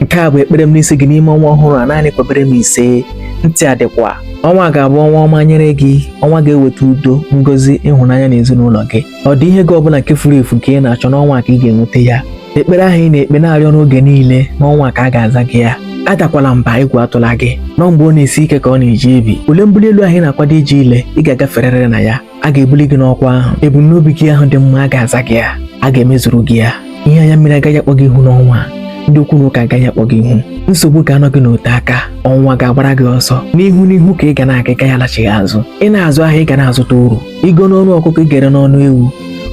nke a bụ ekpere m n'isi gị n'ime ọnwa ọhụrụ a naanị kwebere m ise ntị adịkwa ọnwa ga-abụ ọnwa ọma nyere gị ọnwa ga-eweta udo ngozi ịhụnanya n'ezinụlọ gị ọ dị ihe gị ọbụla nke furu efu nke ị na-achọ n'ọnwa a ka ị ga-enweta ya ekpere ahụ ị na-ekpe na-arịọ n'oge niile n'ọnwa a ka a ga-aza gị ya adakwala mba egwu atụla gị na ọ mgbe ọ na-esi ike ka ọ na-eji ebi ule mbuli elu ahụ ị na-akwado iji ile ị ga-agaferịrị na ya a ga-ebuli gị n'ọkwa ahụ ebumnobi gị ahụ dị mma a ga-aza gị ya a ga-emezuru gị ya ihe anya mmiri agaghị akpọ gị ihu n'ọnwa a ndị okwu na ụka agaghị akpọ gị ihu nsogbu ga-anọ gị n'ote aka ọnwụnwa ga-agbara gị ọsọ n'ihu n'ihu ka ị ga na-aga ị gaghị alachigha azụ ị na-azụ ahịa ị ga na-azụta uru i goo n'ọnụ ọkụkọ ị ga-ere n'ọnụ ewu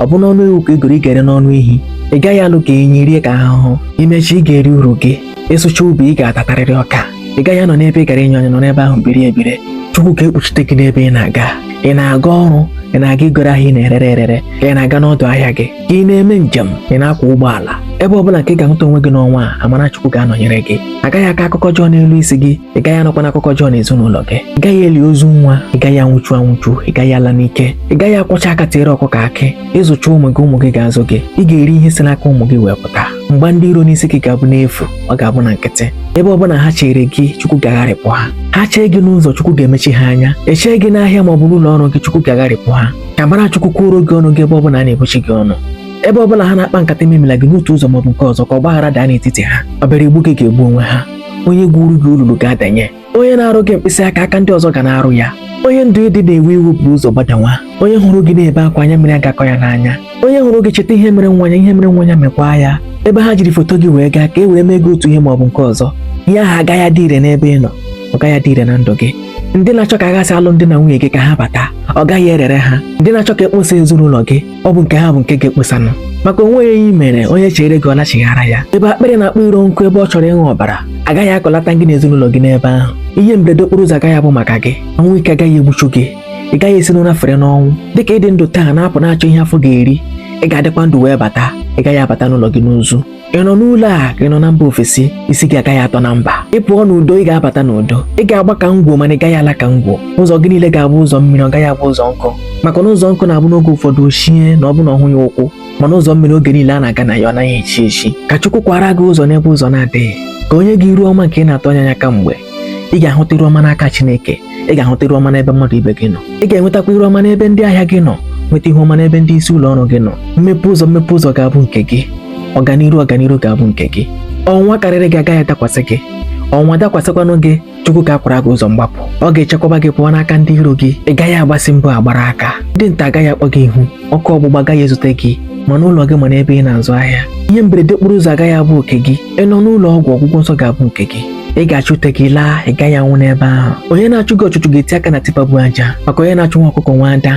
ọ bụ n'ọnụ ewu ka i goro ị ga-ere n'ọnụ ehi ị gaghị alụ ka enyi rie ka ahụhụ i mecha ị ga-eri uru gị ị sụcha ubi ị ga-atatarịrị ọka ị gaghị anọ n'ebe ị gara inyo anya nọ n'ebe ahụ biri ebiri chukwu ga-ekpuchite gị n'ebe ị na-aga ị na-aga ọrụ ị na-aga igoro ahịa ị na-erere erere ka ị na-aga n'ọdụ ahịa gị ka ị na-eme njem ị na-akwọ ụgbọala ebe ọ bụla nke ị ga-ahụta onwe gị n'ọnwa a amara chukwu ga-anọnyere gị a gaghị akọ akụkọ ọjọọ n'elu isi gị ị gaghị anụkwanụ akụkọ ọjọọ n'ezinụlọ gị ị gaghị eli ozu nwa ị gaghị anwụchu anwụchu ị gaghị ala n'ike ị gaghị akwọcha aka tiere ọkụkọ akị ị zụcha ụmụ gị ụmụ gị ga-azụ gị ị ga-eri ihe si n'aka ụmụ gị wee pụta mgba ndị iro n'isi gị ga-abụ n'efu ọ ga-abụ na nkịtị ebe ọ bụla ha chere gị chukwu ga-agharịpụ ha ha chee gị n'ụzọ chukwu ga-emechi ha anya e chee gị n'ahịa ma ọ bụ n'ụlọ ọrụ gị chukwu ga-agharịpụ ha ka amara chukwu kwuoro gị ọnụ gị ebe ọ bụla a na-ebuchi gị ọnụ ebe ọ bụla ha na-akpa nkata imemila gị n'otu ụzọ maọbụ nke ọzọ ka ọgbaghara daa n'etiti ha ọ bịara igbu gị ga-egbu onwe ha onye gwuuru gị olulu ga-adanye onye na-arụ gị mkpịsị aka aka ndị ọzọ ga na-arụ ya onye ndụ ị dị na-ewe iwe bu ụzọ gbadanwa onye hụrụ gị na-ebe akwa anya mmiri agaghị akọ ya n'anya onye hụrụ gị cheta ihe mere nwa ya ihe mere nwa ya mekwaa ya ebe ha jiri foto gị wee gaa ka e wee mee gị otu ihe ma ọ bụ nke ọzọ ihe ahụ agaghị adị ire n'ebe ị nọ ọ gaghị adị ire na ndụ gị ndị na-achọ ka a ghasa alụmdi na nwunye gị ka ha bata ọ gaghị erere ha ndị na-achọ ka e kposa ezinụlọ gị ọ bụ nke ha bụ nke ga-ekposanụ maka o nweghị ihe i mere onye chere gị ọ lachighara ya ebe akpịrị na-akpọ iro nkụ ebe ọ chọrọ ịṅụ ọbara agaghị akọlata gị na ezinụlọ gị n'ebe ahụ ihe mberede okporo ụzọ agaghị abụ maka gị ọnwụ ike agaghị egbuchu gị ị gaghị esi n'ụra fere n'ọnwụ dịka ị dị ndụ taa na-apụ na-achọ ihe afọ ga-eri ị ga-adịkwa ndụ wee bata ị gaghị abata n'ụlọ gị n'ozu ị nọ n'ụlọ a ka ị nọ na mba ofesi isi gị agaghị atọ na mba ị pụọ n'udo ị ga-abata n'udo ị ga-agba ka ngwọ mana ị gaghị ala ka ngwọ ụzọ gị niile ga-abụ ụzọ mmiri ọ gaghị abụ ụzọ nkụ maka na ụzọ nkụ na-abụ n'oge ụfọdụ o chie na ọ bụ na ọ hụghị ụkwụ mana ụzọ mmiri oge niile a na-aga na ya ọ naghị echi echi ka Chukwu kwara gị ụzọ n'ebe ụzọ na-adịghị ka o nye gị iru ọma nke ị na-atụ anya ya kamgbe ị ga-ahụta iru ọma n'aka Chineke ị ga-ahụta iru ọma n'ebe mmadụ ibe gị nọ ị ga-enwetakwa iru ọma n'ebe ndị ahịa gị nọ nweta ihu ọma n'ebe ndị isi ụlọ ọrụ gị nọ mmepe ụzọ mmepe ụzọ ga-abụ nke gị ọganiru ọganiru ga-abụ nke gị ọnwụnwa karịrị gị agaghị adakwasị gị ọnwụnwa dakwasịkwanụ gị chukwu ga-akwara gị ụzọ mgbapụ ọ ga-echekwaba gị pụọ n'aka ndị iro gị ị gaghị agbasị mbọ agbara aka ndị ntọ agaghị akpọ gị ihu ọkụ ọgbụgba agaghị ezute gị ma n'ụlọ gị ma n'ebe ị na-azụ ahịa ihe mberede okporo ụzọ agaghị abụ oke gị ị nọ n'ụlọ ọgwụ ọgwụgwọ nsọ ga-abụ nke gị ị ga-achị ute gị laa ị gaghị anwụ n'ebe ahụ onye na-achụ gị ọchụchụ ga-eti aka na tipa bu aja maka onye na-achụ nwa ọkụkọ nwe ada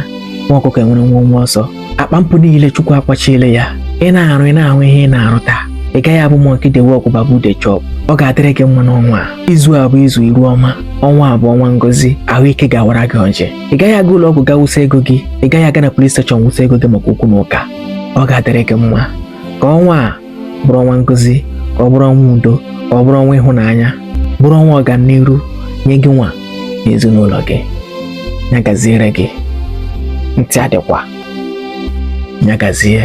nwa ọkụkọ enwere nwenwe ọsọ akpa mpụ niile chukwu akwachiele ya ị na-arụ ị na-ahụ ihe ị na-arụta ị gaghị abụ monkey dey work baboon dey chop ọ ga-adịrị gị mma n'ọnwa a izu a bụ izu iru ọma ọnwa a bụ ọnwa ngozi ahụike ga-awara gị ọjị ị gaghị aga ụlọ ọgwụ ga wụsa ego gị ị gaghị aga na police station wụsa ego gị maka okwu na ụka ọ ga-adịrị gị mma ka ọnwa a bụrụ ọnwa ngozi ka ọ bụrụ ọnwa udo ka ọ bụrụ ọnwa ịhụnanya bụrụ ọnwa ọganiru nye gị nwa na ezinụlọ gị ya gaziere gị ntị adịkwa ya gazie